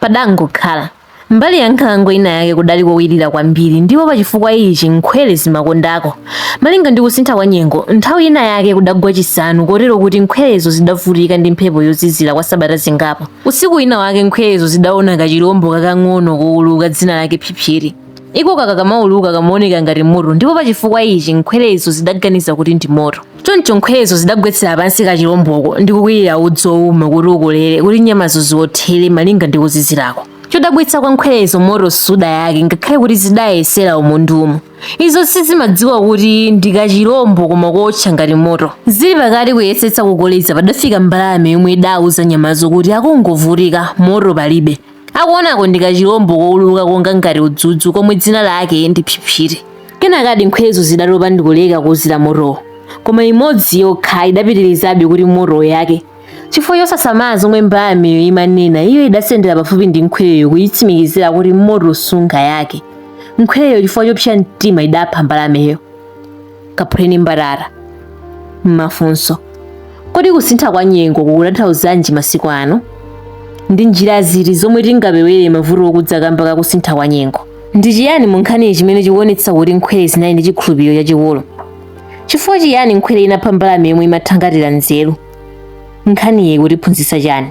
Padangokhala. Mbali ya nkhalango ina yake kudali kowirira kwambiri ndipo pachifukwa ichi nkhwere zimakondako. Malinga ndi kusintha kwa nyengo, nthawi ina yake kudagwa chisanu kotero kuti nkhwerezo zidavutika ndi mphepo yozizira kwa sabata zingapo. Usiku wina wake nkhwerezo zidaona kachilombo kakang'ono kouluka dzina lake Phiphiri. iko kakamauluka kamaoneka ngati moto ndipo pa chifukwa ichi nkhwerezo zidaganiza kuti ndi moto choncho nkhwerezo zidagwetsera pansi kachilomboko ndi kukwirira udzu wouma kuti ukolere kuti nyamazo ziwothere malinga ndi kuzizirako chodabwitsa kwa nkhwerezo moto sudayake ngakhale kuti zidayesera umu ndi umu izo sizimadziwa kuti ndi kachilombo koma kootcha ngati moto zili pakati kuyesetsa kukoleza padafika mbalame yomwe idauza nyamazo kuti akungovutika moto palibe akuonako ndi kachilombo kouluka konga ngati udzudzu komwe dzina lake ndi phiphiri kenakadi nkhwerezo zidatopa ndikuleka kuzira motowo koma imodzi yokha idapitirizabe kuti moto uyake chifukwa chosasamala zomwe mbalameyo imanena iyo idasendera pafupi ndi nkhwereyo kuyitsimikizira kuti moto sungayake nkhwereyo chifukwa chopsa mtima idapha mbalameyo kaphuleni mbatata mafunso kodi kusintha kwa nyengo kukutanthauzanji masiku ano ndi njira ziti zomwe tingapewere mavuto okudza kamba ka kusintha kwa nyengo ndi chiyani mu nkhaniyi chimene chikuonetsa kuti nkhwere zinali ndi chikhulupiriro chachikulu chifukwa chiyani nkhwere inapha mbalame yomwe imathangatira nzeru nkhaniyi ikutiphunzitsa chani